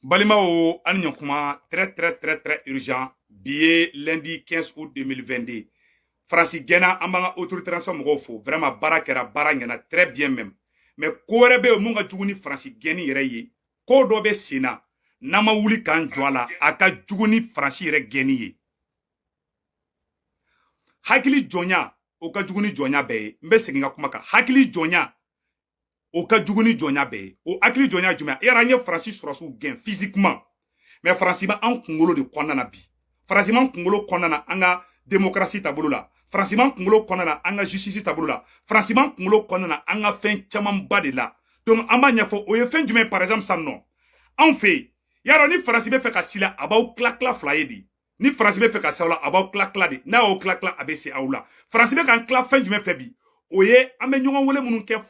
balimaw an ni ɲɔkuma très très très très urgent bi ye lundi 15 août 2022 faransi gɛnna an b'an ka autorité transition mɔgɔw fo vraiment baara kɛra baara ɲɛna très bien même mais ko wɛrɛ bɛ yen min ka jugu ni faransi gɛnni yɛrɛ ye ko dɔ bɛ sen na n'an ma wuli k'an jɔ a la a ka jugu ni faransi yɛrɛ gɛnni ye hakili jɔnya o ka jugu ni jɔnya bɛɛ ye n bɛ segin ka kuma kan hakili jɔnya o ka jugu ni jɔnya bɛɛ ye o hakili jɔnya jumɛn ye y'a dɔn an ye faransi sɔrɔdasiw gɛn physiquement mais faransi b'an kunkolo de kɔnɔna na bi faransi b'an kunkolo kɔnɔna na an ka démocratie taabolo la faransi b'an kunkolo kɔnɔna na an ka justice taabolo la faransi b'an kunkolo kɔnɔna na an ka fɛn camanba de la donc an b'a ɲɛfɔ o ye fɛn jumɛn par exemple sisan nɔ en fait y'a dɔn ni faransi bɛ fɛ ka s'i la a b'aw tila tila fila ye de ni faransi bɛ fɛ ka s'aw la a b'aw tila tila de n'a y'aw tila tila a bɛ se aw la faransi bɛ k'an tila fɛn jumɛn fɛ bi o ye an bɛ ɲɔgɔn wele minnu kɛ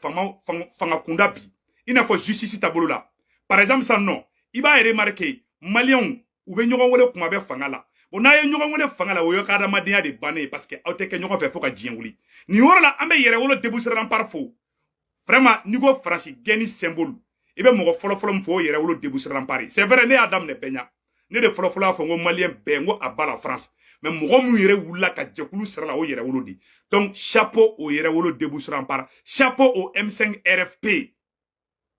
fanga kunda bi i n'a fɔ justice taabolo la par exemple sisan nɔ i b'a remarquer maliyɛnw u bɛ ɲɔgɔn wele kuma bɛɛ fanga la bon n'a ye ɲɔgɔn wele fanga la o y'a ka adamadenya de bannen ye parce que aw tɛ kɛ ɲɔgɔn fɛ fo ka diɲɛ wuli nin yɔrɔ la an bɛ yɛrɛwolo debout sur les remparts fo vraiment n'i ko faransi gɛnni symbole i bɛ mɔgɔ fɔlɔfɔlɔ min fɔ o yɛrɛwolo debout sur les remparts c'est vrai ne y'a daminɛ bɛɛ ɲa ne de fɔlɔfɔlɔ y'a fɔ n ko maliyɛn bɛɛ n ko à bas la france mais mɔgɔ minnu yɛrɛ wulila ka jɛkulu sira la o yɛrɛwolo de donc chapeau au yɛrɛwolo debout sur les remparts chapeau au m5 rfp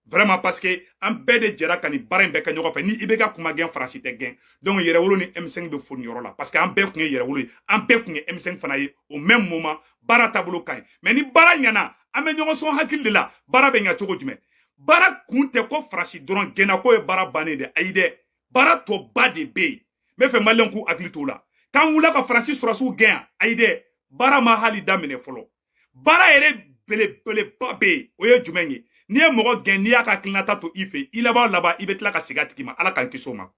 vraiment parce que an bɛɛ de jɛra ka nin baara in bɛɛ kɛ ɲɔgɔn fɛ ni ibk tun ma gɛn faransi tɛ gɛn donc yɛrɛwolo ni m5 bɛ fo nin yɔrɔ la parce que an bɛɛ tun ye yɛrɛwolo ye an bɛɛ tun ye m5 fana ye au même moment baara taabolo ka ɲi mais ni baara ɲɛna an bɛ ɲɔgɔn sɔn hakili de la baara bɛ ɲa cogo jumɛn baara kun tɛ ko faransi dɔrɔn gɛnna k'o ye baara bannen de ayi dɛ baara tɔba de bɛ yen n b'a fɛ maliyɛnw k'u hakili t'o la k'an wulila ka faransi sɔrɔdasiw gɛn yan ayi dɛ baara ma hali daminɛ fɔlɔ baara yɛrɛ belebeleba bɛ yen o ye jumɛn ye n'i ye mɔgɔ gɛn n'i y'a ka hakilinata to i fɛ i laban laban i bɛ tila ka segin a tigi ma ala k'an kisi o ma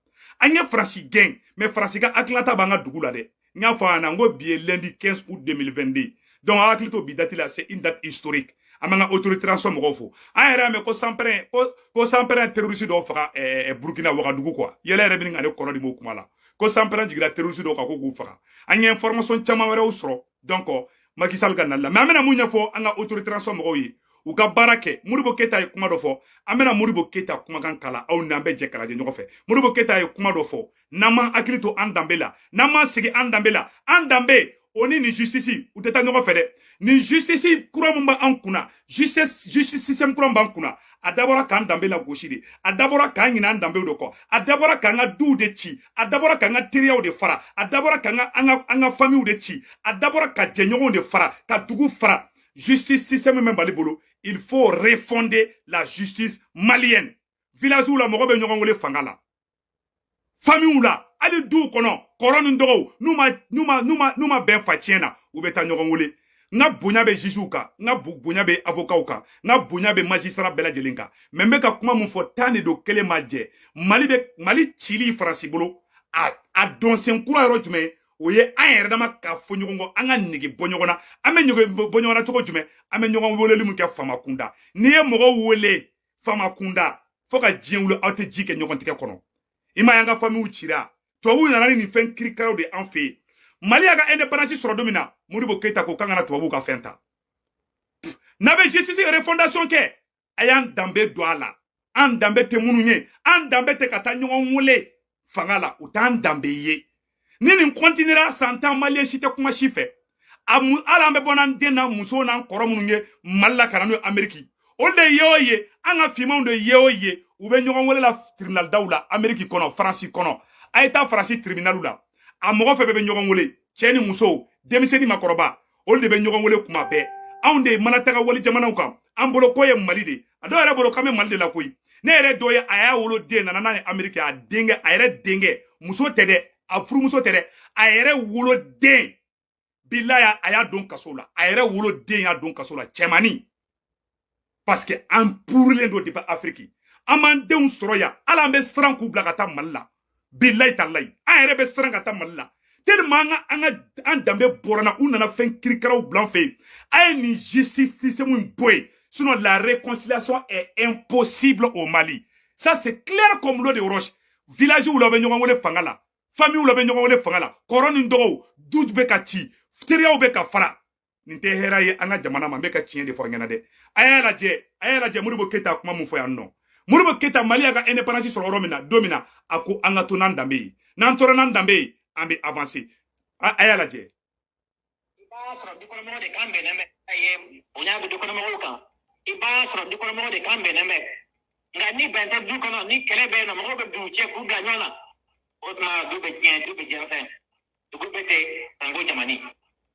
an ye faransi gɛn mais faransi ka hakilinata b'an ka dugu la dɛ n y'a fɔ a ɲɛna n ko bi ye lundi 15 août 2022 donc a hakili to bi dati la c'est une date historique an b'an ka autorité transition mɔgɔw fo an yɛrɛ y'a mɛn ko sanpɛrɛn ko ko sanpɛrɛn terroriste dɔw faga ɛɛ burukina wagadugu quoi yɛlɛ yɛrɛ bɛ ka ne kɔnɔ dimi o kuma la ko sanpɛrɛn jigira terroriste dɔw kan ko k'u faga an ye information caman wɛrɛw sɔrɔ donc Macky Sall ka nali la mais an bɛna mun ɲɛfɔ an ka autorité transition mɔgɔw ye u ka baara kɛ modibo keyita ye kuma dɔ fɔ an bɛna modibo keyita kumakan kala aw n'an bɛ jɛ k'a lajɛ ɲɔgɔn fɛ modibo keyita ye kuma dɔ fɔ n'an m'an hakili to an danbe la n'an m'an sigi an danbe la an danbe o ni nin justice u tɛ taa ɲɔgɔn fɛ dɛ nin justice kura min b'an kunna justice justice système kura b'an kunna a dabɔra k'an danbe la gosi de a dabɔra k'an ɲin'an danbew de kɔ a dabɔra k'an ka duw de ci a dabɔra k'an ka teriyaw de fara a dabɔra k'an ka an ka an ka famiw de ci a dabɔra ka jɛɲɔgɔnw de fara ka dugu fara justice système min bɛ mali bolo il faut refonder la justice malienne villagew la mɔgɔ bɛ ɲɔgɔn wele fanga la famiw la hali duw kɔnɔ kɔrɔ ni dɔgɔw n'u ma n'u ma n'u ma n'u ma bɛn fa tiɲɛ na u bɛ taa ɲɔgɔn wele n ka bonya bɛ jugew kan n ka bonya bɛ avocatw kan n ka bonya bɛ magistrat bɛɛ lajɛlen kan mais n bɛ ka kuma min fɔ tan de don kelen ma jɛ mali bɛ mali cili faransi bolo a a dɔnsen kura yɔrɔ jumɛn o ye an yɛrɛ dama ka fɔ ɲɔgɔn kɔ an ka nege bɔ ɲɔgɔn na an bɛ nege bɔ ɲɔgɔn na cogo jumɛn an bɛ ɲɔgɔn weleli min kɛ faama kunda n'i ye mɔgɔw wele faama kunda fo ka diɲɛ wuli aw tɛ ji kɛ ɲɔgɔn tigɛ kɔnɔ i ma y'an ka famiw cira tubabuw nana ni nin fɛn kirikaraw de an fɛ yen mali y'a ka indépendance sɔrɔ don min na modibo keyita ko k'an kana tubabuw ka fɛn ta n'a bɛ justice refondation kɛ a y'an danbe don a la an danbe tɛ ninnu ye an danbe tɛ ka taa ɲɔgɔn wele fanga la o t'an danbe ye ni nin kɔntinera san tan maliyɛn si tɛ kuma si fɛ a mu hali an bɛ bɔ n'an den n'an muso n'an kɔrɔ minnu ye mali la ka na n'u ye ameriki olu de ye o ye an ka finmanw de ye o ye u bɛ ɲɔgɔn wele la tribunal daw la ameriki kɔnɔ faransi kɔnɔ a ye taa faransi tribunal la a mɔgɔ fin bɛɛ bɛ ɲɔgɔn wele cɛ ni muso denmisɛnnin makɔrɔba olu de bɛ ɲɔgɔn wele kuma bɛɛ anw de mana taga wali jamanaw kan an bolo ko ye mali de a dɔw yɛrɛ bolo k'an bɛ mali de la koyi ne yɛrɛ dɔ ye a y'a wolo den nana n'a ye ameriki a denkɛ a yɛrɛ denkɛ muso tɛ dɛ a furumuso tɛ dɛ a yɛrɛ wolo den bilayi a y'a don kaso la a yɛrɛ wolo den y'a don kaso la cɛmannin parce que an purulen don depuis afiriki an m'an denw sɔrɔ yan hali an bɛ siran k'u bila ka taa mali la bilayi talayi an yɛrɛ bɛ siran ka taa mali la tellement an ka an ka an danbe bɔr'an na u nana fɛn kirikaraw bila an fɛ yen a ye nin justice système in bɔ yen sinon la réconciliation est impossible au Mali ça c'est clair comme l'eau de roche villagew la bɛ ɲɔgɔn wele fanga la famille la bɛ ɲɔgɔn wele fanga la kɔrɔ ni dɔgɔw du bɛ ka ci teriyaw bɛ ka fara nin tɛ hɛrɛ ye an ka jamana ma n bɛ ka tiɲɛ de fɔ a ɲɛna dɛ a y'a lajɛ a y'a lajɛ modibo keyita kuma mun fɔ yan nɔ modibo keyita mali y'a ka indépendance sɔrɔ yɔrɔ min na don min na a ko an ka to n'an danbe ye n'an tora n'an danbe ye an bɛ avancer a y'a lajɛ. i b'a sɔrɔ dukɔnɔmɔgɔ de kan bɛnnen bɛ a ye bonya bɛ dukɔnɔmɔgɔw kan i b'a sɔrɔ dukɔnɔmɔgɔ de kan bɛnnen bɛ nka ni bɛn tɛ du kɔnɔ ni kɛlɛ bɛ yen nɔ mɔgɔw bɛ don u cɛ k'u bila ɲɔgɔn na o tuma du bɛ tiɲɛ du bɛ jɛnsɛn. dugu bɛɛ tɛ sanko jamani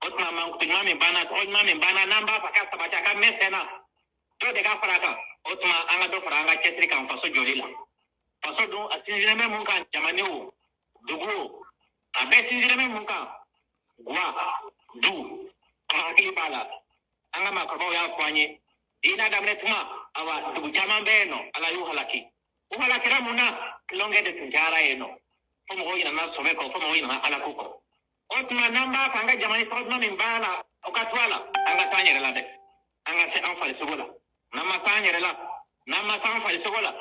o tuma mankutu ɲuman min b'an na o ɲuman min b'an na n'an b'a fɛ ka sabati a ka mɛn sen na dɔ de ka fara a kan o tuma an ka dɔ fara an ka cɛsiri kan faso jɔli la faso dun a sinsinnen bɛ mun kan jamana o dugu o a bɛɛ sinsinnen bɛ mun kan gwa du an hakili b'a la an ka maakɔrɔbaw y'a fɔ an ye diinɛ daminɛ tuma awa dugu caman bɛ yen nɔ ala y'u halaki u halakira mun na tulonkɛ de tun diyara yen nɔ fo mɔgɔw ɲinana sɔbɛ kɔ fo mɔgɔw ɲinana ala ko kɔ o tuma n'an b'a fɛ an ka jamana in tɔgɔ min b'a la o ka to a la an ka se an yɛrɛ la dɛ an ka se an farisogo la n'an ma se an yɛrɛ la n'an ma se an farisogo la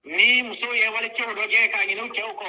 ni musow ye wali cɛw dɔjɛ ka ɲin'u cɛw kɔ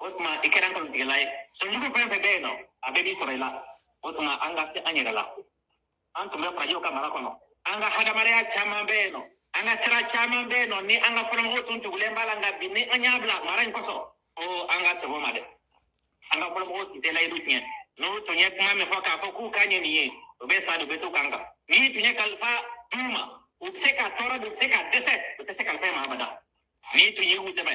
o tuma i kɛra nkalontigɛla ye sɔnjugu fɛn fɛn bɛ yen nɔ a bɛɛ bɛ sɔrɔ i la o tuma an ka se an yɛrɛ la an tun bɛ farajɛw ka mara kɔnɔ an ka hadamadenya caman bɛ yen nɔ an ka sira caman bɛ yen nɔ ni an ka fɔlɔmɔgɔw tun tugulen b'a la nka bi ni an y'a bila mara in kosɔn ko an ka sɛbɛ ma dɛ an ka fɔlɔmɔgɔw tun tɛ layidu tiɲɛ n'u tun ye kuma min fɔ k'a fɔ k'u kan ye nin ye u bɛ sa de u bɛ to u kan kan n'i tun ye kalifa d'u ma u bɛ se ka tɔɔrɔ de u bɛ se ka dɛsɛ u tɛ se kalifa in ma abada n'i tun ye u dɛmɛ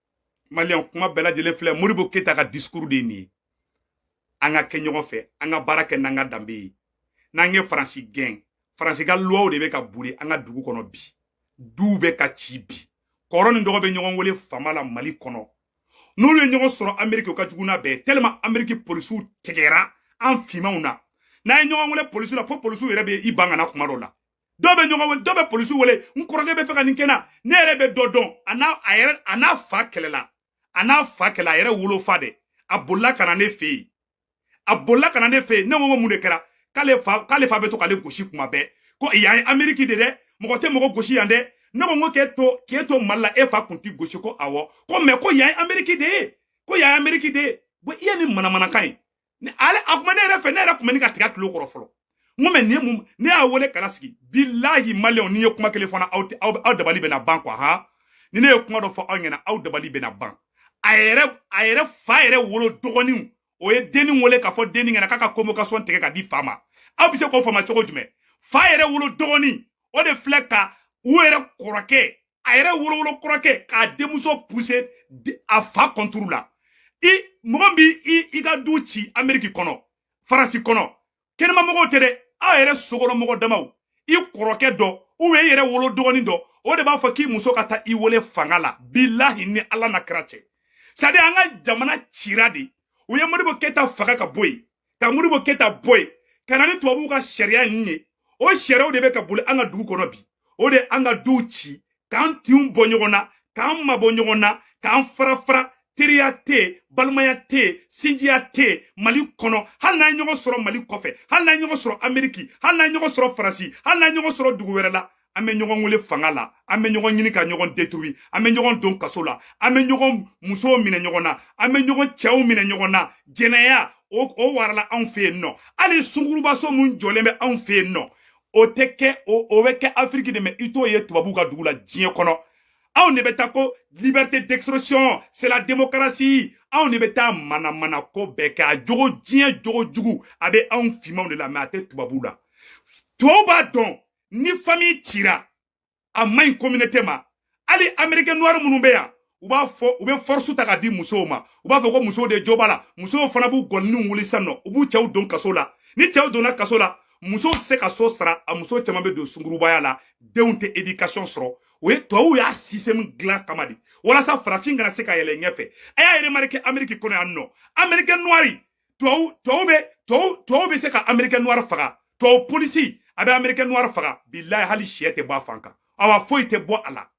maliyɛn kuma bɛɛ lajɛlen filɛ modibo keyita ka discours de ye nin ye an ka kɛ ɲɔgɔn fɛ an ka baara kɛ n'an ka danbe ye n'an ye faransi gɛn faransi ka luwaw de bɛ ka boli an ka dugu kɔnɔ bi duw bɛ ka ci bi kɔrɔ ni dɔgɔ bɛ ɲɔgɔn wele fama la mali kɔnɔ n'olu ye ɲɔgɔn sɔrɔ ameriki o ka jugu n'a bɛɛ tellement ameriki polisiw tigɛra an finmanw na n'an ye ɲɔgɔn wele polisiw la fo polisiw yɛrɛ bɛ i ban ka na kuma dɔ la dɔw bɛ ɲɔgɔn wele dɔw bɛ polisiw wele n kɔrɔkɛ bɛ fɛ ka nin kɛ na ne yɛrɛ bɛ dɔ dɔn a n'a a yɛrɛ a n'a fa kɛlɛla a n'a fa kɛlɛ a yɛrɛ wolofa dɛ a bolila ka na ne fɛ yen a bolila ka na ne fɛ yen ne ko ko mun de kɛra k'ale fa k'ale fa bɛ to k'ale gosi kuma bɛɛ ko yan ye ameriki de dɛ mɔgɔ tɛ mɔgɔ gosi yan dɛ ne ko n ko k'e to k'e to mali la e fa kun t'i gosi ko awɔ ko mɛ ko yan ye ameriki de ye ko yan ye ameriki de ye bɔ yan ni manamanakan ye ni ale a kuma ne yɛrɛ fɛ ne yɛrɛ kun bɛ ne ka tigɛ a tulo kɔrɔ fɔlɔ n ko mɛ nin ye mun ne y'a wele ka na sigi bilahi maliyɛnw n'i ye kuma kelen fana aw aw aw dabali bɛna ban kuwa han ni ne ye kuma dɔ fɔ aw ɲɛna aw dabali bɛna ban a yɛrɛ a yɛrɛ fa yɛrɛ wolo dɔgɔninw o ye denni wele k'a fɔ denni ɲɛna k'a ka convocation tigɛ ka di fa ma aw bɛ se k'o faamu cogo jumɛn fa yɛrɛ wolo dɔgɔnin o de filɛ ka u yɛrɛ kɔrɔkɛ a yɛrɛ wolowolo kɔrɔkɛ k'a denmuso puse a fa kɔnturu la i mɔgɔ bi i i ka du ci ameriki kɔnɔ faransi kɔnɔ kɛnɛma mɔgɔw tɛ dɛ aw yɛrɛ sokɔnɔ mɔgɔ damaw i kɔrɔkɛ dɔ ubiyɛn i yɛrɛ wolo dɔgɔnin dɔ o de b'a fɔ k'i muso ka taa i wele fanga la bilahi ni ala n'a kira cɛ sadi an ka jamana cira de u ye modibo keyita faga ka bɔ yen ka moribo keyita bɔ yen ka na ni tubabuw ka sariya ninnu ye o sariyaw de bɛ ka boli an ka dugu kɔnɔ bi o de an ka duw ci k'an tinw bɔ ɲɔgɔn na k'an mabɔ ɲɔgɔn na k'an fara fara teriya tɛ yen balimaya tɛ yen sinjiya tɛ yen mali kɔnɔ hali n'an ye ɲɔgɔn sɔrɔ mali kɔfɛ hali n'an ye ɲɔgɔn sɔrɔ ameriki hali n'an ye ɲɔgɔn sɔrɔ faransi hali n'an ye ɲɔgɔn sɔrɔ dugu wɛrɛ la an bɛ ɲɔgɔn wele fanga la an bɛ ɲɔgɔn ɲini ka ɲɔgɔn détruit an bɛ ɲɔgɔn don kaso la an bɛ ɲɔgɔn musow minɛ ɲɔgɔn na an bɛ ɲɔgɔn cɛw minɛ ɲɔgɔn na jɛnɛya o o warala anw fɛ yen nɔ hali sungurubaso min jɔlen bɛ anw fɛ yen nɔ o tɛ kɛ o o bɛ kɛ afiriki de mɛ i t'o ye tubabuw ka dugu la diɲɛ kɔnɔ anw de bɛ taa ko liberté d'expression c'est la démocratie anw de bɛ taa manamana ko bɛɛ kɛ a jogo diɲɛ jogo jugu a bɛ anw finmanw de la mɛ a tɛ tubabuw la tubabu b'a dɔn ni fami cira a man ɲi communauté ma hali américain noir minnu bɛ yan u b'a fɔ u bɛ force ta ka di musow ma u b'a fɔ ko musow de jo b'a la musow fana b'u gɔniniw wuli sisan nɔ u b'u cɛw don kaso la ni cɛw donna kaso la musow tɛ se ka so sara a muso caman bɛ don sungurubaya la denw tɛ éducation sɔrɔ o ye tubabuw y'a système dilan kama de walasa farafin kana se ka yɛlɛ ɲɛfɛ a y'a remarqué amérique kɔnɔ yan nɔ américain noir tubabu tubabu bɛ tubabu tubabu bɛ se ka américain noir faga tubabu polisi a bɛ américain noir faga bilayi hali sɛ tɛ bɔ a fan kan awa foyi tɛ bɔ a la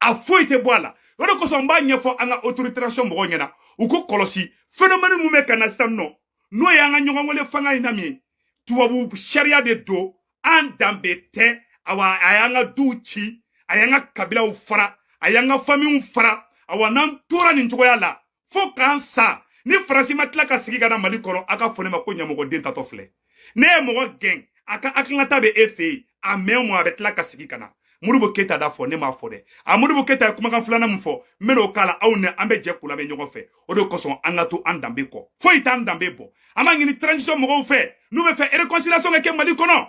a foyi tɛ bɔ a la o de kosɔn n b'a ɲɛfɔ an ka autorisation mɔgɔw ɲɛna u k'o kɔlɔsi phénomène min bɛ ka na sisan nɔ n'o ye an ka ɲɔgɔn wele fanga in na min ye tubabu sariya de don an danbe tɛ awa a y'an ka duw ci a y'an ka kabilaw fara a y'an ka famiw fara awa n'an tora nin cogoya la fo k'an sa ni faransi ma tila ka segin ka na mali kɔnɔ a k'a fɔ ne ma ko ɲamɔgɔden taatɔ filɛ n'e ye mɔgɔ gɛn a ka hakilinata bɛ e fɛ yen a mɛn o mɛn a bɛ tila ka segin ka na moribo keyita d'a fɔ ne m'a fɔ dɛ a moribo keyita ye kumakan filanan min fɔ n bɛn'o k'a la aw ni an bɛ jɛ k'o lamɛn ɲɔgɔn fɛ o de kosɔn an ka to an danbe kɔ foyi t'an danbe bɔ an b'a ɲini transition mɔgɔw fɛ n'u bɛ fɛ réconciliation ka kɛ mali kɔnɔ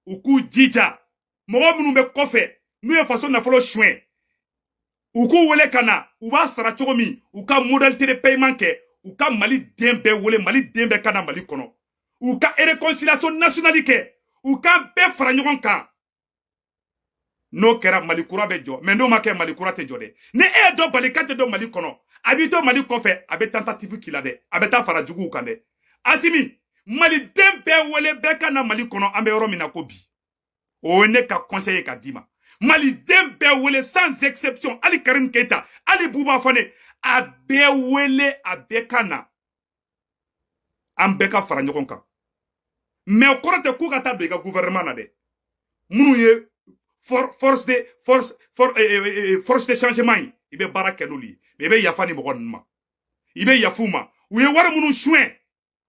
u k'u jija mɔgɔ minnu bɛ kɔfɛ n'u ye faso nafolo suɲɛ u k'u wele ka na u b'a sara cogo min u ka modalité de paiement kɛ u ka maliden bɛɛ wele maliden bɛɛ ka na mali kɔnɔ u ka réconciliation nationale kɛ u k'an bɛɛ fara ɲɔgɔn kan n'o kɛra mali kura bɛ jɔ mɛ n'o ma kɛ mali kura tɛ jɔ dɛ ni e ye dɔ bali k'a tɛ don mali kɔnɔ a b'i to mali kɔfɛ a bɛ tentative k'i la dɛ a bɛ taa fara juguw kan dɛ asimi maliden bɛɛ wele bɛɛ ka na mali kɔnɔ an bɛ yɔrɔ min na ko bi o ye ne ka conseil ye ka d'i ma maliden bɛɛ wele sans exception hali karim keita hali buba fane a bɛɛ wele a bɛɛ ka na an bɛɛ ka fara ɲɔgɔn kan mɛ o kɔrɔ tɛ k'u ka taa don i ka gouvernement na dɛ minnu ye force de force force eh, eh, eh, force de changement ye i bɛ baara kɛ n'olu ye mɛ i bɛ yafa ni mɔgɔ ninnu ma i bɛ yafa u ma u ye wari minnu suɲɛ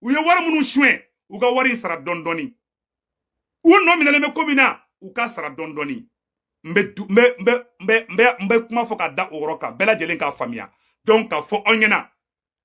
u ye wari minnu suɲɛ u ka wari in sara dɔɔni dɔɔni u nɔ minɛlen bɛ ko min na u ka sara dɔɔni dɔɔni n bɛ n bɛ kuma fɔ ka da o yɔrɔ kan bɛɛ lajɛlen k'a faamuya donc k'a fɔ aw ɲɛna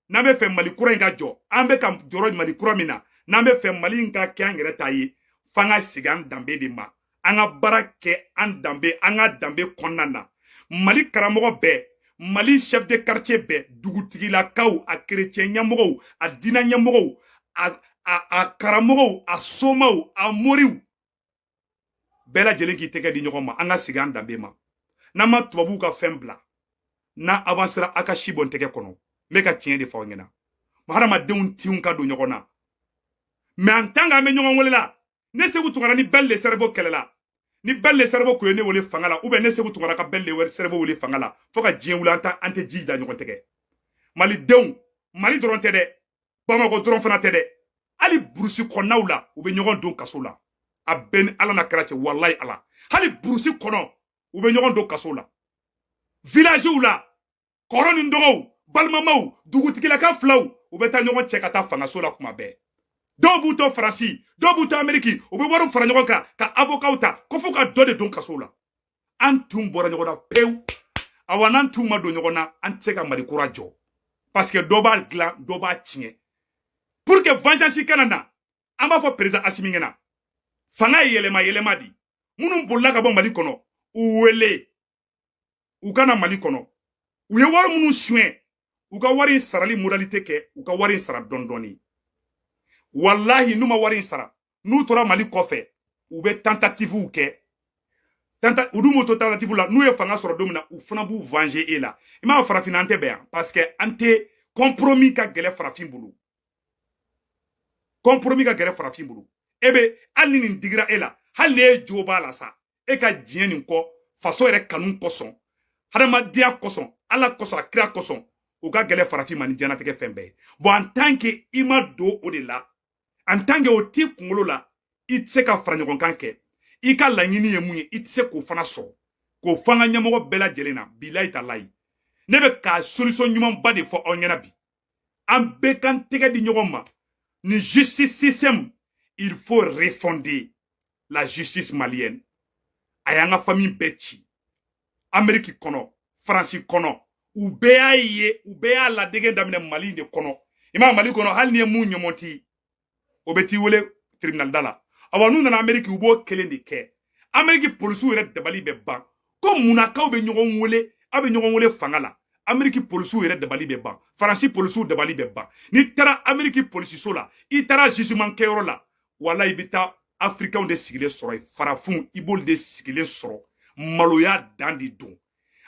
n'an bɛ fɛ mali kura in ka jɔ an bɛ ka jɔrɔ mali kura min na n'an bɛ fɛ mali in ka kɛ an yɛrɛ ta ye f'an ka segin an danbe de ma an ka baara kɛ an danbe an ka danbe kɔnɔna na mali karamɔgɔ bɛɛ mali chef de quartier bɛɛ dugutigilakaw a kerecɛn ɲɛmɔgɔw a diinɛ ɲɛmɔgɔw a a a karamɔgɔw a somaw a moriw bɛɛ lajɛlen k'i tɛgɛ di ɲɔgɔn ma an ka segin an danbe ma n'an ma tubabuw ka fɛn bila n'an avansera a ka si bɔ n tɛgɛ kɔnɔ n bɛ ka tiɲɛ de fɔ aw ɲɛna hadamadenw tinw ka don ɲɔgɔn na mais en tant qu'an bɛ ɲɔgɔn wele la ne seku tunkara ni ben le cerveau kɛlɛla ni ben le cerveau kun ye ne wele fanga la ou bien ne seku tunkara ka ben le cerveau wele fanga la fo ka diɲɛ wuli an ta an tɛ ji da ɲɔgɔn tɛgɛ malidenw mali dɔrɔn tɛ dɛ bamakɔ dɔrɔn fana tɛ dɛ hali burusi kɔnɔnaw la u bɛ ɲɔgɔn don kaso la a bɛɛ ni ala na kɛra cɛ walayi ala hali burusi kɔnɔ u bɛ ɲɔgɔn don kaso la vilaziw la kɔrɔ ni dɔgɔw balimamaw dugutigilaka filaw u bɛ taa ɲɔgɔn cɛ ka taa fangaso la kuma bɛɛ dɔw b'u to faransi dɔw b'u to ameriki u bɛ wariw fara ɲɔgɔn kan ka avokaw ta ko fo ka dɔ de don kaso la an tinw bɔra ɲɔgɔn na pewu awa n'an tinw ma don ɲɔgɔn na an tɛ se ka mali kura jɔ parce que dɔ b'a dilan dɔ b'a tiɲɛ pour que vengeance kana na an b'a fɔ perezan asimi ɲɛna fanga ye yɛlɛma yɛlɛma di minnu bolila ka bɔ mali kɔnɔ u wele u ka na mali kɔnɔ u ye wari minnu suɲɛ u ka wari in sarali modalite kɛ u ka wari in sara dɔɔni dɔɔni walahi n'u ma wari in sara n'u tora mali kɔfɛ u bɛ tantatifuw kɛ u dun b'u to tantatifu la n'u ye fanga sɔrɔ don min na u fana b'u venger e la i m'a farafin an tɛ bɛn yan parce que an tɛ compromis ka gɛlɛ farafin bolo compromis ka gɛlɛ farafin bolo e bɛ hali ni nin digira e la hali n'e jo b'a la sa e ka diɲɛ nin kɔ faso yɛrɛ kanu kosɔn hadamadenya kosɔn ala kosɔn a kira kosɔn o ka gɛlɛ farafin ma ni diɲɛlatigɛ fɛn bɛɛ ye bon en tant que i ma don o de la en tant que o t'i kunkolo la i tɛ se ka fara ɲɔgɔn kan kɛ i ka laɲini ye mun ye i tɛ se k'o fana sɔrɔ k'o fɔ an ka ɲɛmɔgɔ bɛɛ lajɛlen na bilayi talayi ne bɛ ka solisɔn ɲumanba de fɔ aw ɲɛna bi an bɛɛ k'an tɛgɛ di ɲɔgɔn ma ni justice system il faut refonder la justice malienne a y'an ka famille bɛɛ ci ameriki kɔnɔ faransi kɔnɔ u bɛɛ y'a ye u bɛɛ y'a ladege daminɛ mali de kɔnɔ i m'a mali kɔnɔ hali n'i ye mun ɲɔmɔti o bɛ t'i wele tribinali da la awa n'u nana ameriki u b'o kelen de kɛ ameriki polisiw yɛrɛ dabali bɛ ban ko munna k'aw bɛ ɲɔgɔn wele aw bɛ ɲɔgɔn wele fanga la ameriki polisiw yɛrɛ dabali bɛ ban faransi polisiw dabali bɛ ban n'i taara ameriki polisiso la i taara jugement kɛyɔrɔ la wala i bɛ taa afirikanw de sigilen sɔrɔ yen farafinw i b'olu de sigilen sɔrɔ maloya dan de don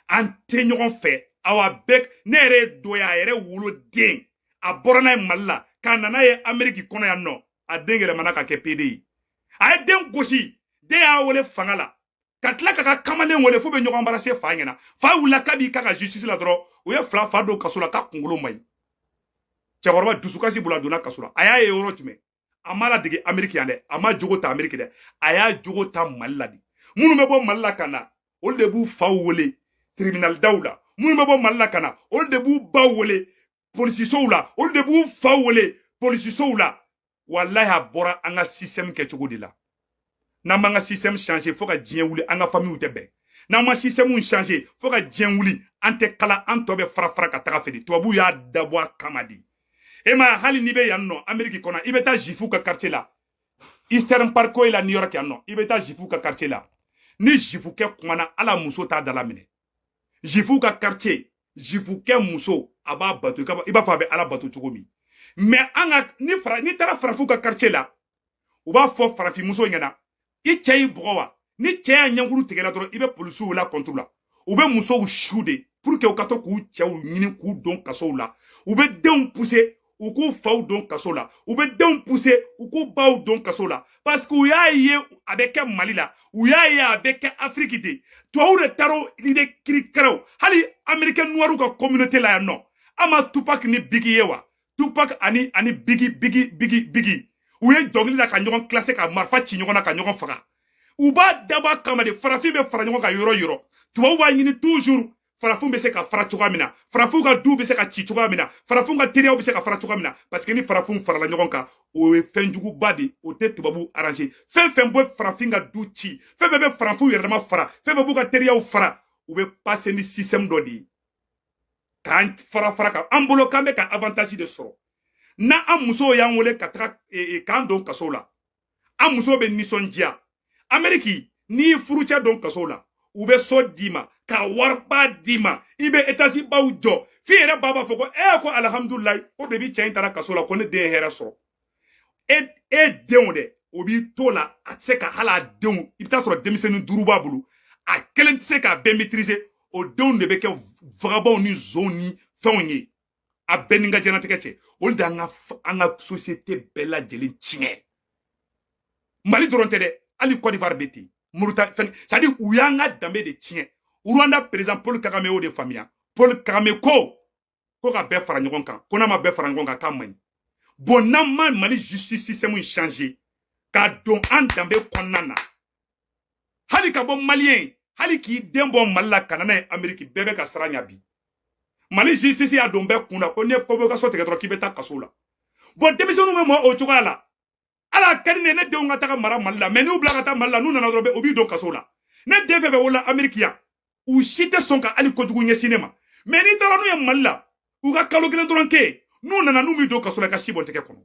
an tɛ ɲɔgɔn fɛ awa bɛɛ ne yɛrɛ ye dɔ ye a yɛrɛ wolo den a bɔra n'a ye mali la ka na n'a ye ameriki kɔnɔ yan nɔ a den yɛlɛmana ka kɛ pede ye a ye den gosi den y'a wele fanga la ka tila k'a ka kamalen wele f'u bɛ ɲɔgɔn barase fa ɲɛna fa wulila k'a b'i ka ka justice la dɔrɔn u ye fila fa don kaso la k'a kunkolo man ɲi cɛkɔrɔba dusukasi bolo a donna kaso la a y'a ye yɔrɔ jumɛn a m'a ladege ameriki yan dɛ a m'a jogo ta ameriki dɛ a y'a jogo ta mali la de minnu bɛ bɔ mali la ka na olu de b'u faw wele tribinali daw la minnu bɛ bɔ mali la ka na olu de b'u baw wele polisisow la olu de b'u faw wele polisisow la walahi a bɔra an ka système kɛcogo de la n'an m'an ka système changer fo ka diɲɛ wuli an ka familles tɛ bɛn n'an ma système changer fo ka diɲɛ wuli an tɛ kala an tɔ bɛ fara fara ka taga fɛ de tubabuw y'a dabɔ a kama de e ma hali n'i bɛ yan nɔ ameriki kɔnɔ i bɛ taa zifu ka quartier la eastern parkway la new york yan nɔ i bɛ taa zifu ka quartier la ni zifukɛ kumana a la muso t'a dalaminɛ zifu ka quartier zifukɛ muso a b'a bato i b'a fɔ a bɛ ala bato cogo min mɛ an ka ni fara n'i taara farafinw ka quartier la u b'a fɔ farafinmuso ɲɛna i cɛ y'i bugɔ wa n'i cɛ y'a ɲɛkuru tigɛla dɔrɔn i bɛ polisiw wel'a kɔntu la u bɛ musow su de pour que u ka to k'u cɛw ɲini k'u don kasow la u bɛ denw puse u k'u faw don kaso la u bɛ denw puse u k'u baw don kaso la parce que u y'a ye a bɛ kɛ mali la u y'a ye a bɛ kɛ afiriki de tubabu de taara ni de kirikaraw hali amerikɛn nuwariw ka communauté la yan nɔ an ma tupac ni bigi ye wa tupac ani ani bigi bigi bigi bigi u ye dɔnkili la ka ɲɔgɔn kilase ka marifa ci ɲɔgɔn na ka ɲɔgɔn faga u b'a dabɔ a kama de farafin bɛ fara ɲɔgɔn kan yɔrɔ yɔrɔ tubabu b'a ɲini toujours farafinw bɛ se ka fara cogoya min na farafinw ka duw bɛ se ka ci cogoya min na farafinw ka teriyaw bɛ se ka fara cogoya min na parce que ni farafinw farala ɲɔgɔn kan o ye fɛn juguba de o tɛ tubabuw arranger fɛn fɛn bɛ farafin ka du ci fɛn bɛɛ bɛ farafinw yɛrɛ dama fara fɛn bɛɛ b'u ka teriyaw fara u bɛ pase ni système dɔ de ye k'an fara fara kan an bolo k'an bɛ ka avantaji de sɔrɔ n'an musow y'an wele ka taga e, e, k'an don kaso la an musow bɛ nisɔndiya ameriki n'i y'i furucɛ don kaso la u bɛ so d'i ma ka wariba d'i ma i bɛ etasi baw jɔ f'i yɛrɛ ba b'a fɔ ko e ko alihamudulilayi ko depuis cɛ in taara kaso la ko ne den ye hɛrɛ sɔrɔ e e denw dɛ o b'i to la a tɛ se ka hali a denw i bɛ t'a sɔrɔ denmisɛnnin duuru b'a bolo a kelen tɛ se k'a bɛɛ maîtriser o denw de bɛ kɛ vagabɔnw ni zonw ni fɛnw ye a bɛɛ ni ka jɛnatigɛ cɛn olu de an ka société bɛɛ lajɛlen tiɲɛ mali dɔrɔn tɛ dɛ hali côte d'ivoire bɛ ten mauritanie c'est à dire u y'an ka danbe de tiɲɛ rwanda président paul kagame y'o de faamuya paul kagame ko ko ka bɛɛ fara ɲɔgɔn kan ko n'a ma bɛɛ fara ɲɔgɔn kan k'a man ɲi bon n'an ma mali justice système changer k'a don an danbe kɔnɔna na hali ka bɔ mali yen hali k'i den bɔ mali la ka na n'a ye ameriki bɛɛ bɛ ka siran ɲa bi mali justice y'a don bɛɛ kun na ko n'i ye convocation tigɛ dɔrɔn k'i bɛ taa kaso la bon denmisɛnninw bɛ mɔ o cogoya la ala ka di ne ne denw ka taga mara mali la mɛ n'u bila ka taa mali la n'u nana dɔrɔn u b'i don kaso la ne den fɛn fɛn wolola ameriki yan u si tɛ sɔn ka hali kojugu ɲɛsin ne ma mɛ n'i taara n'u ye mali la u ka kalo kelen dɔrɔn kɛ n'u nana n'u b'i don kaso la ka si bɔn tɛgɛ kɔnɔ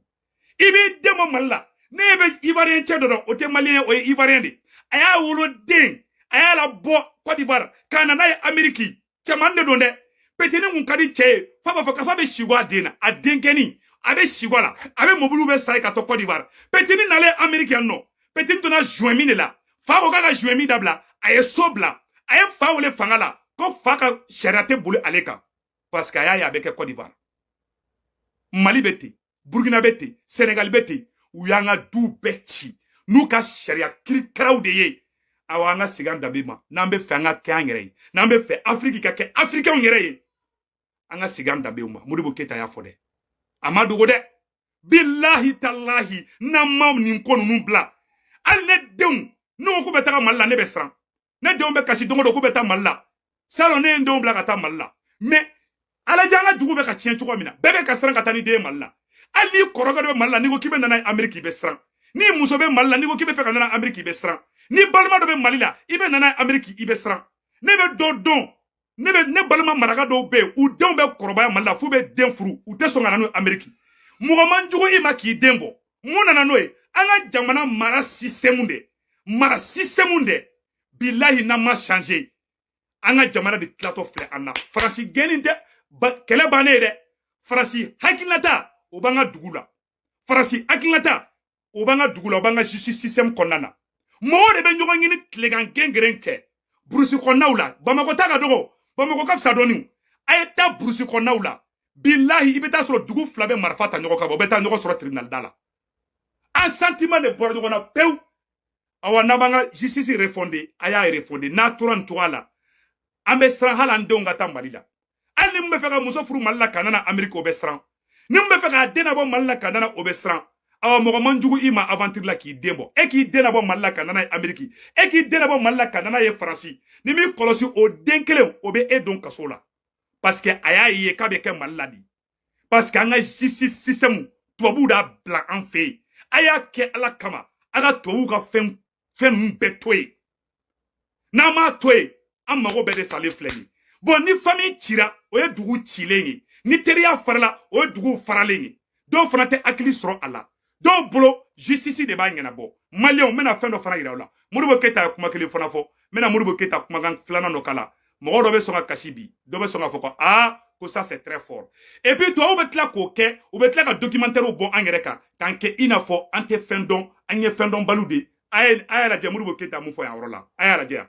i b'i den bɔ mali la ne bɛ ivariyɛn cɛ dɔ dɔn o tɛ maliyɛn o ye ivariyɛn de a y'a wolo den a y'a labɔ kɔdiwari ka na n'a ye ameriki cɛman de don dɛ petini kun ka di cɛ ye fa b'a fɔ k'a fa bɛ sɛwa a den na a denkɛni a bɛ sɛwa a la a bɛ mobiliw bɛɛ san a ye ka to kɔdiwari petini nalen ameriki yan nɔ petini donna joint min de la fa ko k'a ka joint min dabila a ye so bila a ye fa wele fanga la ko fa ka sariya tɛ boli ale kan parce que a y'a ye a bɛ kɛ kɔdiwari mali bɛ ten burkina bɛ ten senegali bɛ ten u y'an ka duw bɛɛ ci n'u ka sariya kirikaraw de ye awa an ka segin an danbe ma n'an bɛ fɛ an ka kɛ an yɛrɛ ye n'an bɛ fɛ afiriki ka kɛ afirikɛnw yɛrɛ ye an ka segin an danbew ma modibo keyita y'a fɔ dɛ a ma dogo dɛ bilahi talahi n'an ma nin ko ninnu bila hali ne denw n'u ko bɛ taga mali la ne bɛ siran ne denw bɛ kasi don o don k'u bɛ taa mali la salon ne ye n denw bila ka taa mali la mɛ a lajɛ an ka dugu bɛ ka tiɲɛ cogo min na bɛɛ bɛ ka siran ka taa n'i den ye mali la hali n'i kɔrɔkɛ dɔ bɛ mali la n'i ko k'i bɛ na n'a ye ameriki i bɛ siran n'i muso bɛ mali la n'i ko k'i bɛ fɛ ka na n'a ameriki i bɛ siran n'i balima dɔ bɛ mali la i bɛ na n'a ye ameriki i bɛ siran ne bɛ dɔ dɔn ne bɛ ne balima maraka dɔw bɛ yen u denw bɛ kɔrɔbaya mali la f'u bɛ den furu u tɛ sɔn ka na n'u ye ameriki mɔgɔ man jugu i ma k'i den bɔ mun nana n'o ye an ka jamana mara sisitɛmu de mara sisitɛmu de bilahi n'a ma changer an ka jamana de tilatɔ filɛ an na faransi gɛnni tɛ kɛlɛ bannen ye dɛ faransi hakilinata o b'an ka dugu la faransi hakilinata o b'an ka dugu la o b'an ka justice système kɔnɔna na mɔgɔw de bɛ ɲɔgɔn ɲini tilegan gengeren kɛ burusi kɔnɔnaw la bamakɔ ta ka dɔgɔ bamakɔ ka fisa dɔɔni a ye taa burusi kɔnɔnaw la bilahi i bɛ t'a sɔrɔ dugu fila bɛ marifa ta ɲɔgɔn kama u bɛ taa ɲɔgɔn sɔrɔ tribunal da la an sentiment de bɔra ɲɔgɔn na pewu awa n'an b'an ka justice refonder a y'a refonder n'a tora nin cogoya la an bɛ siran hali an denw ka taa mali la hali ni min bɛ fɛ ka muso furu mali la ka na n'a ameriki o bɛ siran ni min bɛ fɛ k'a den nabɔ mali la ka na n'a o bɛ siran awa mɔgɔ man jugu i ma aventure la k'i den bɔ e k'i den nabɔ mali la ka na n'a ye ameriki e k'i den nabɔ mali la ka na n'a ye faransi n'i m'i kɔlɔsi o den kelen o bɛ e don kaso la parce que a y'a ye k'a bɛ kɛ mali la di parce que an ka justice système tubabuw d'a bila an fɛ yen a y'a kɛ ala kama a ka tubabuw ka fɛn fɛn ninnu bɛɛ to yen n'an m'a to yen an mago bɛɛ de salen filɛ ni bon ni famille cira o ye dugu cilen ye ni teriya farala o ye dugu faralen ye dɔw fana tɛ hakili sɔrɔ a la dɔw bolo justice de b'a ɲɛnabɔ maliyɛnw n bɛna fɛn dɔ fana yira aw la modibo keyita ye kuma kelen fana fɔ n bɛna modibo keyita kumakan filanan dɔ k'a la mɔgɔ dɔ bɛ sɔn ka kasi bi dɔ bɛ sɔn k'a fɔ ko aa ko ça c'est très fort et puis tubabuw bɛ tila k'o kɛ u bɛ tila ka documentaires bɔ an yɛrɛ kan k'an kɛ i n'a fɔ an tɛ fɛn dɔn an ye fɛn dɔnbaliw de ye a ye a y'a lajɛ modibo keyita mun fɔ yan yɔrɔ la a y'a lajɛ yan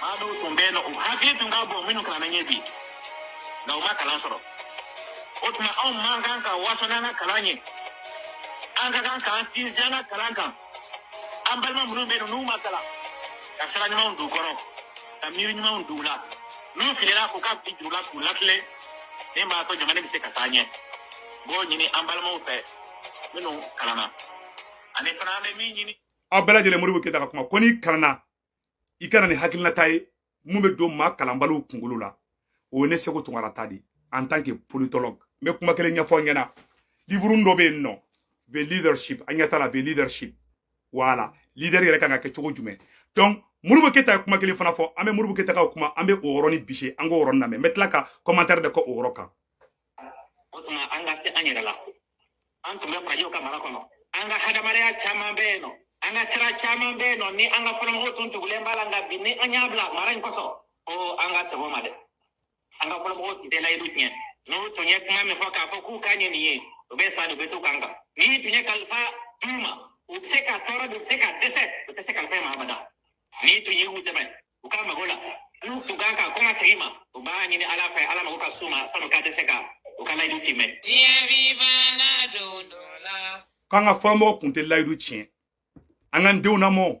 maa dɔw tun bɛ yen nɔ u hakili tun ka bon minnu kalanna ye bi nka u ma kalan sɔrɔ o tuma anw man kan ka waso n'an ka kalan ye an ka kan k'an sinsin an ka kalan kan an balima minnu bɛ yen n'u ma kalan ka sira ɲumanw don u kɔrɔ ka miiri ɲumanw don u la n'u filila k'u ka fili jira u la k'u latilen min b'a to jamana bɛ se ka taa ɲɛ b'o ɲini an balimaw fɛ minnu kalanna ani fana an bɛ min ɲini aw bɛɛ lajɛlen modibo keyita ka kuma ko n'i kalanna i ka na ni hakilinata ye min bɛ don maa kalanbaliw kunkolo la o ye ne seko tunkara ta de en tant que politologue n bɛ kuma kelen ɲɛfɔ aw ɲɛna liburu dɔ bɛ yen nɔ the leadership an ɲɛ t'a la the leadership voilà leader yɛrɛ kan ka kɛ cogo jumɛn donc modibo keyita ye kuma kelen fana fɔ an bɛ modibo keyita ka kuma an bɛ o yɔrɔnin bise an k'o yɔrɔnin lamɛn n bɛ tila ka commentaire de kɛ o yɔrɔ kan o tuma an ka se an yɛrɛ la an tun bɛ farajɛw ka mara kɔnɔ an ka hadamadenya caman bɛ yen nɔ an ka sira caman bɛ yen nɔ ni an ka fɔlɔmɔgɔw tun tugulen b'a la nka bi ni an y'a bila mara in kosɔn ko an ka segin o ma dɛ an ka fɔlɔmɔgɔw tun tɛ layidu tiɲɛ n'u tun ye kuma min fɔ k'a fɔ k'u kan ye nin ye u bɛ sa de u bɛ to u kan kan n'i tun ye kalifa d'u ma u bɛ se ka tɔɔrɔ de u bɛ se ka dɛsɛ u tɛ se kalifa in ma abada n'i tun ye u dɛmɛ u ka mago la n'u tun kan ka kɔn ka tigi ma u b'a ɲini ala fɛ ala mago ka s'u ma sann'u ka dɛsɛ ka u ka layidu timɛ diɲɛ b'i banna don dɔ la k'an ka fɔlɔmɔgɔw kun tɛ layidu tiɲɛ an k'an denw namɔ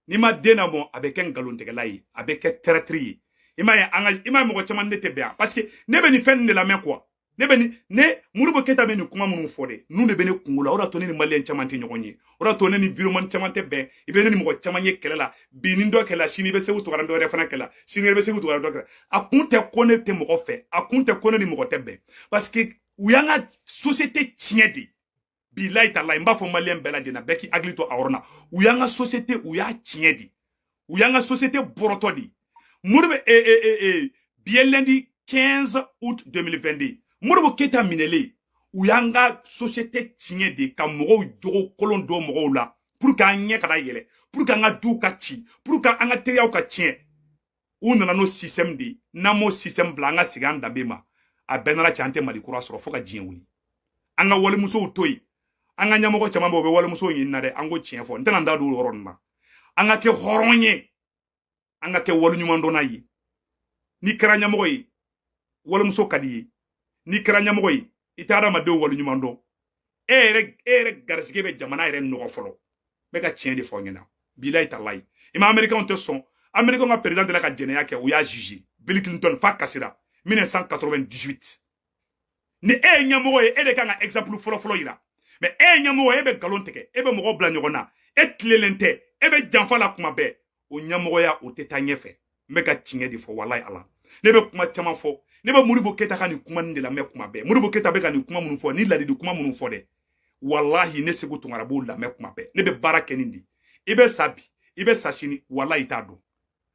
n'i ma den namɔ a bɛ kɛ nkalontigɛla ye a bɛ kɛ traître ye i m'a ye an ka i m'a ye mɔgɔ caman ne tɛ bɛn yan parce que ne bɛ nin fɛn nin de lamɛn quoi ne bɛ ni ne modibo keyita bɛ nin kuma minnu fɔ dɛ ninnu de bɛ ne kunkolo la o de to ne ni maliyɛn caman tɛ ɲɔgɔn ye o de to ne ni vidéoman caman tɛ bɛn i bɛ ne ni mɔgɔ caman ye kɛlɛ la bi ni dɔ kɛlɛ sini i bɛ seko tunkara dɔ wɛrɛ fana kɛlɛ sini i bɛ seko tunkara dɔ kɛlɛ a kun tɛ ko ne tɛ mɔgɔ fɛ a kun tɛ ko ne ni mɔgɔ tɛ bɛn parce que u y'an ka société tiɲɛ de bilayi talayi n b'a fɔ maliyɛn bɛɛ lajɛlen na bɛɛ k'i hakili to a yɔrɔ la u y'an ka sosiyete u y'a tiɲɛ de u y'an ka sosiyete bɔrɔtɔ de modibo ee ee ee ee bi ye lundi 15 août 2022 modibo keyita minɛlen u y'an ka sosiyete tiɲɛ de ka mɔgɔw jogo kolon don mɔgɔw la pour que an ɲɛ kana yɛlɛ pour que an ka duw ka ci pour que an ka teriyaw ka tiɲɛ u nana n'o système de ye n'an m'o système bila an ka segin an danbe ma a bɛɛ nana cɛ an tɛ mali kura sɔrɔ fo ka diɲɛ wuli an ka walimusow to yen an ka ɲɛmɔgɔ caman bɛ u bɛ walimusow ɲini na dɛ an ko tiɲɛ fɔ n tɛna n da don o yɔrɔ ninnu na an ka kɛ hɔrɔn ye an ka kɛ waleɲumandɔnna ye n'i kɛra ɲɛmɔgɔ ye walimuso ka d'i ye n'i kɛra ɲɛmɔgɔ ye i tɛ adamadenw waleɲuman dɔn e yɛrɛ garisɛgɛ bɛ jamana yɛrɛ nɔgɔ fɔlɔ n bɛ ka tiɲɛ de fɔ aw ɲɛna bilayi talayi i ma amerikɛnw tɛ sɔn amerikɛnw ka président delila ka jɛnɛya kɛ u y'a juger bill clinton f'a kasira 1998 ni e ye ɲɛmɔgɔ ye e de kan ka exemple fɔlɔfɔlɔ yira mais e ye ɲɛmɔgɔ ye e bɛ nkalon tigɛ e bɛ mɔgɔw bila ɲɔgɔn na e tilelen tɛ e bɛ janfa la kuma bɛɛ o ɲɛmɔgɔya o tɛ taa ɲɛfɛ n bɛ ka tiɲɛ de fɔ walayi ala ne bɛ kuma caman fɔ ne bɛ modibo keyita ka nin kuma nin de lamɛn kuma bɛɛ modibo keyita bɛ ka nin kuma minnu fɔ ni ladili kuma minnu fɔ dɛ walahi ne seku tunkara b'o lamɛn kuma bɛɛ ne bɛ baara kɛ nin de i bɛ sa bi i bɛ sa sini walayi i t'a dɔn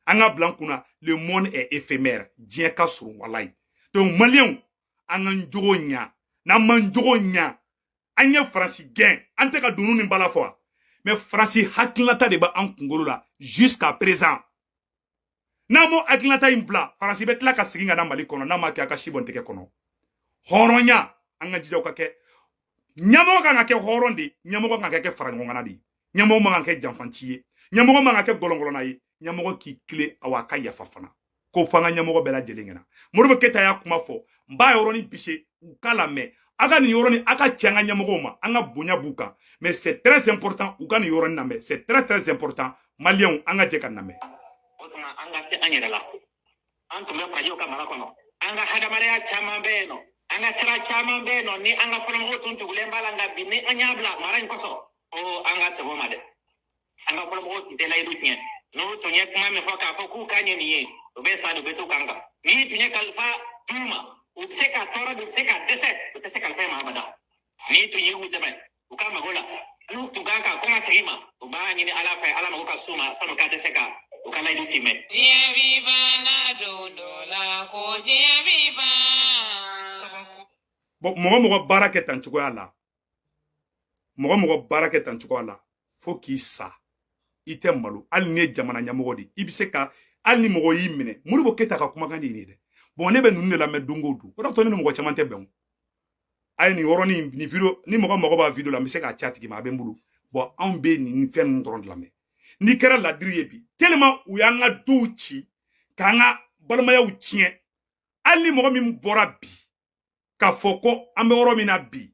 an k'a bila an kun na le monde est éphémère diɲɛ ka surun walayi donc maliyɛnw an k'an jogo ɲa n'an m'an jogo ɲa an ye faransi gɛn an tɛ ka dunun ni bala fɔ wa mais faransi hakilinata de bɛ an kunkolo la jusqu'à présent n'an m'o hakilinata in bila faransi bɛ tila ka segin ka na mali kɔnɔ n'a ma kɛ a ka si bɔ n tɛgɛ kɔnɔ hɔrɔnya an ka jija o ka kɛ ɲɛmɔgɔ kan ka kɛ hɔrɔn de ɲɛmɔgɔ kan ka kɛ faraɲɔgɔnkanna de ɲɛmɔgɔ man ka kɛ janfanci ye ɲɛmɔgɔ man ka kɛ gɔlɔngɔlɔna ye ɲɛmɔgɔ k'i tilen aw a ka yafa fana k'o fɔ an ka ɲɛmɔgɔ bɛɛ lajɛlen ɲɛna modibo keyita y'a kuma fɔ n b'a yɔrɔnin bisser u k'a lamɛn a ka nin yɔrɔnin a k'a ci an ka ɲɛmɔgɔw ma an ka bonya b'u kan mais c'est très important u ka nin yɔrɔnin lamɛn c'est très très important maliyɛnw an ka jɛ k'a lamɛn o tuma an ka se an yɛrɛ la an tun bɛ farajɛw ka mara kɔnɔ an ka hadamadenya caman bɛ yen nɔ an ka sira caman bɛ yen nɔ ni an ka fɔlɔmɔgɔw tun tugulen b'a la nka bi ni an y'a bila mara in kɔsɔn ko an ka segin o ma dɛ an ka fɔlɔmɔgɔw tun tɛ layidu tiɲɛ n'u tun ye kuma min fɔ k'a fɔ k'u kan ye nin ye u bɛ sa de u bɛ to u kan kan n'i tun ye kalifa d'u ma u bɛ se ka tɔɔrɔ de u bɛ se ka dɛsɛ u tɛ se kalifa in ma abada n'i tun ye u dɛmɛ u ka mago la n'u tun kan ka kuma tigi ma u b'a ɲini ala fɛ ala mago ka s'u ma sanu k'a tɛ se ka u ka layidu timɛ diɲɛ bi banna don dɔ la ko diɲɛ bi ban bon mɔgɔ mɔgɔ baara kɛ tan cogoya la mɔgɔ mɔgɔ baara kɛ tan cogoya la fo k'i sa i tɛ malo hali n'i ye jamana ɲɛmɔgɔ de i bɛ se ka hali ni mɔgɔ y'i minɛ modibo keyita ka kumakan de ye nin ye dɛ bon ne bɛ ninnu de lamɛn don o don o de y'a to ne ni mɔgɔ caman tɛ bɛn o a ye nin yɔrɔnin nin video ni mɔgɔ mago b'a video la n bɛ se k'a ci a tigi ma a bɛ n bolo bon anw bɛ nin fɛn ninnu dɔrɔn de lamɛn n'i kɛra ladiri ye bi tellement u y'an ka duw ci k'an ka balimayaw tiɲɛ hali ni mɔgɔ min bɔra bi k'a fɔ ko an bɛ yɔrɔ min na bi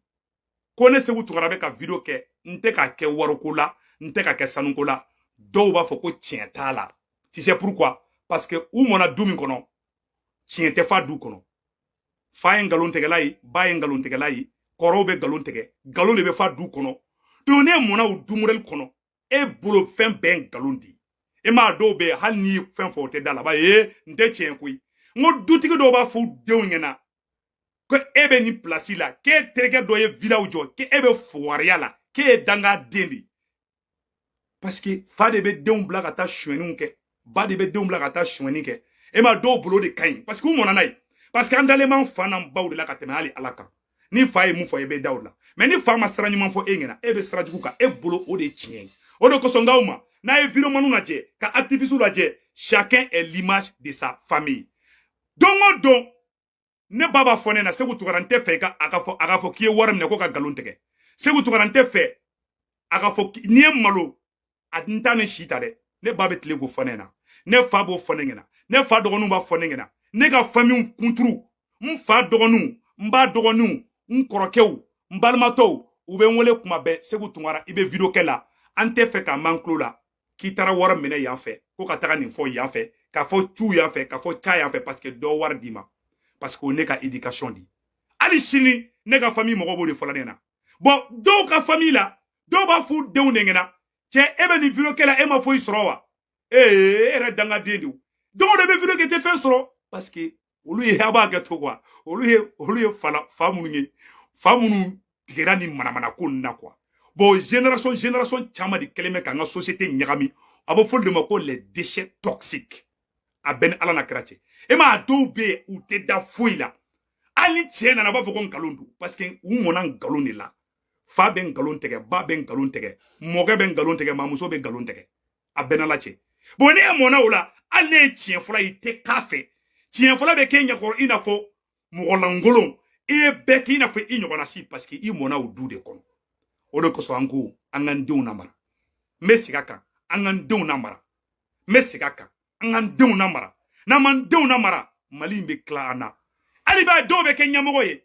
ko ne seku tunkara bɛ ka video kɛ n tɛ k'a kɛ wariko la n tɛ k'a kɛ sanuko la dɔw b'a fɔ ko tiɲɛ t'a la tu sais pourquoi parce que u mɔna du min kɔnɔ tiɲɛ tɛ f'a du kɔnɔ fa ye nkalon tigɛla ye ba ye nkalon tigɛla ye kɔrɔw bɛ nkalon tigɛ nkalon de bɛ f'a du kɔnɔ donc n'e mɔna o du modèle kɔnɔ e bolo fɛn bɛɛ nkalon de e maa dɔw bɛ hali n'i ye fɛn fɔ u tɛ d'a la ba ye n tɛ tiɲɛ koyi n ko dutigi dɔw b'a fɔ u denw ɲɛna ko e bɛ nin place la k'e terikɛ dɔ ye vilaw jɔ k'e bɛ fugariya la k'e ye dangaden de ye parce que fa de bɛ denw bila ka taa sonyɛniw kɛ ba de bɛ denw bila ka taa sonyɛni kɛ e maa dɔw bolo de ka ɲi parce que u mɔna n'a ye parce que an dalen b'an fa n'an baw de la ka tɛmɛ hali ala kan ni fa ye mun fɔ e bɛ da o la mais ni fa ma sira ɲuman fɔ e ɲɛna e bɛ sira jugu kan e bolo o de ye tiɲɛ ye o de kosɔn n k'aw ma n'a ye videomaniw lajɛ ka activistew lajɛ chacun est l'image de sa famille don o don ne ba b'a fɔ ne na seku tunkara n tɛ fɛ a ka fɔ k'i ye wari minɛ ko ka nkalon tigɛ seku tunkara n tɛ fɛ a ka fɔ n'i ye malo a n t'a ni si ta dɛ ne ba bɛ tile k'o fɔ ne na ne fa b'o fɔ ne ɲɛna ne fa dɔgɔninw b'a fɔ ne ɲɛna ne ka famille kunturu n fa dɔgɔninw n ba dɔgɔninw n kɔrɔkɛw n balimatɔw u bɛ n wele kuma bɛɛ segu tungara i bɛ video kɛla an tɛ fɛ k'a mɛn an tulo la k'i taara wari minɛ yan fɛ ko ka taga nin fɔ yan fɛ k'a fɔ cu yan fɛ k'a fɔ ca yan fɛ parce que dɔ wari d'i ma parce que o ne ka éducation di hali sini ne ka famille mɔgɔ b'o de fɔla ne na bon dɔw ka famille la dɔw b'a f'u denw de ɲɛna cɛ e bɛ nin video kɛla e ma foyi sɔrɔ wa ee e yɛrɛ dangaden de don o de i bɛ video kɛ i tɛ fɛn sɔrɔ parce que olu ye a b'a kɛ to quoi olu ye fa minnu ye fa minnu tigɛra nin manamana ko ninnu na quoi bon génération génération caman de kɛlen bɛ k'an ka société ɲagami a bɛ f'olu de ma ko les déchets toxiques a bɛ n ni ala n'a kira cɛ e maa dɔw bɛ yen u tɛ da foyi la hali ni tiɲɛ nana a b'a fɔ ko nkalon don parce que u mɔna nkalon de la fa bɛ nkalon tigɛ ba bɛ nkalon tigɛ mɔkɛ bɛ nkalon tigɛ mamuso bɛ nkalon tigɛ a bɛ n n'ala cɛ bon n'e yɛrɛ mɔna o la hali n'e ye tiɲɛ fɔla i tɛ k'a fɛ tiɲɛ fɔla bɛ k'i ɲɛkɔrɔ i n'a fɔ mɔgɔ lankolon i ye bɛɛ k'i n'a fɔ i ɲɔgɔnna si parce que i mɔna o du de kɔnɔ o de kosɔn an ko an k'an denw namara n bɛ segin a kan an k'an denw namara n bɛ segin a kan an k'an denw namara n'an m'an denw namara mali in bɛ tila an na hali b'a dɔw bɛ kɛ ɲɛmɔgɔ ye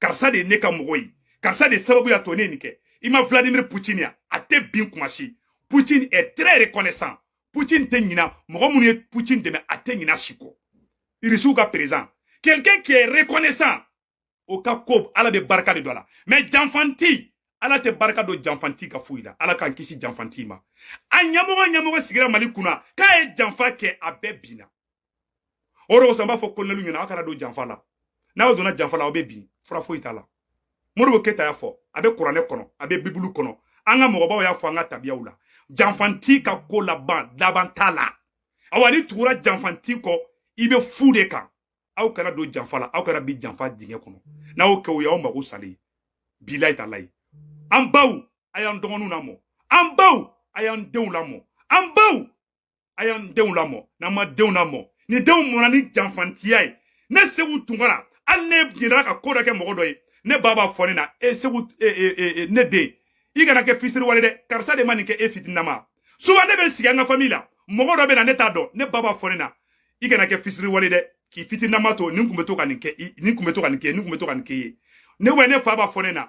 karisa de ye ne ka mɔgɔ ye karisa de sababu y'a to ne ye nin kɛ i ma vladimir putin ya a tɛ bin kuma si putin est très reconnaissant putin tɛ ɲina mɔgɔ minnu ye putin dɛmɛ a tɛ ɲina si kɔ irisiw ka président quelqu'un qui est reconnaissant o ka ko ala bɛ barika de don a la mais janfanti ala tɛ barika don janfanti ka foyi la ala k'an kisi janfanti ma a ɲɛmɔgɔ ɲɛmɔgɔ sigira mali kunna k'a ye janfa kɛ a bɛɛ binna o de kosɔn n b'a fɔ kolonɛliw ɲɛna aw kana don janfa la n'aw donna janfa la aw bɛ bin fura foyi t'a la modibo keyita y'a fɔ a bɛ kuranɛ kɔnɔ a bɛ bibulu kɔnɔ an ka mɔgɔbaw y'a fɔ an ka tabiyaw la janfanti ka ko laban laban t'a la awa n'i tugura janfanti kɔ i bɛ fu de kan aw kana don janfa la aw kana bin janfa dingɛ kɔnɔ n'aw kɛ o y'aw mago salen ye bilayi talayi an baw a y'an dɔgɔninw lamɔ an baw a y'an denw lamɔ an baw a y'an denw lamɔ n'an ma denw lamɔ ni denw mɔna ni janfantiya ye ne seku tunkara hali ne jɛnna ka ko dɔ kɛ mɔgɔ dɔ ye ne ba b'a fɔ ne na e seku ne den i kana kɛ fisiriwale dɛ karisa de ma nin kɛ e fitinama souvent ne bɛ sigi an ka fami la mɔgɔ dɔ bɛ na ne t'a dɔn ne ba b'a fɔ ne na i kana kɛ fisiriwale dɛ k'i fitinama to nin kun bɛ to ka nin kɛ nin kun bɛ to ka nin kɛ nin kun bɛ to ka nin kɛ ye ne wa ne fa b'a fɔ ne na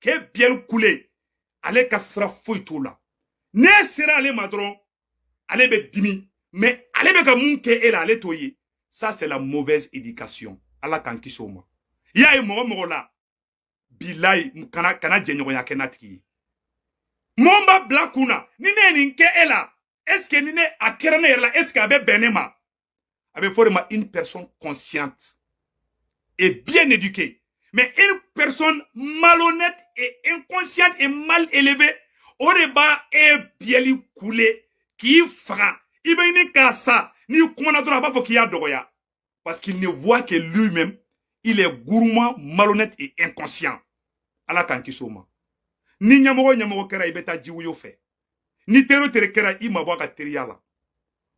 k'e biyɛli kule ale ka sira foyi t'o la n'e sera ale ma dɔrɔn ale bɛ dimi mais ale bɛ ka mun kɛ e la ale t'o ye ça c'est la mauvaise éducation ala k'an kisi o ma i y'a ye mɔgɔ mɔgɔ la bilayi kana jɛɲɔgɔnya kɛ n'a tigi ye mɔgɔ b'a bila kun na ni ne ye nin kɛ e la est-ce que ni ne a kɛra ne yɛrɛ la est-ce que a bɛ bɛn ne ma a bɛ fɔ o de ma une personne consciente et bien éduquée mais une personne malhonnête et inconsciente et mal élevée o de b'a e biyɛli kule k'i faga i bɛ ɲini ka sa n'i kumana dɔrɔn a b'a fɔ k'i y'a dɔgɔya Parce qu'il ne voit que lui-même, il est gourmand, malhonnête et inconscient. Ala k'an kisi o ma. Ni ɲɛmɔgɔ ɲɛmɔgɔ kɛra i bɛ taa jiwoyo fɛ. Ni teri o teri kɛra i mabɔ a ka teriya la.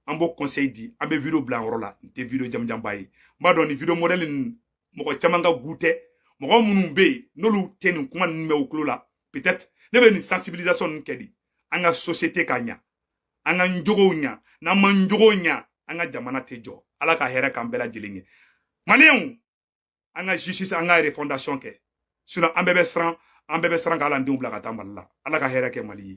An b'o conseil di an bɛ video bila an yɔrɔ la n tɛ video jamanjanba ye. N b'a dɔn nin video modèle ninnu mɔgɔ caman ka goût tɛ mɔgɔ minnu bɛ yen n'olu tɛ nin kuma ninnu mɛn u tulo la peut-être ne bɛ nin sensibilisation ninnu kɛ de an ka société ka ɲa an k'an jogow ɲa n'an m'an jogow ɲa an ka jamana tɛ jɔ ala ka hɛrɛ k'an bɛɛ lajɛlen ye maliyɛnw an ka justice an ka refondation kɛ sinon an bɛɛ bɛ siran an bɛɛ bɛ siran ka an denw bila ka taa mali la ala ka hɛrɛ kɛ mali ye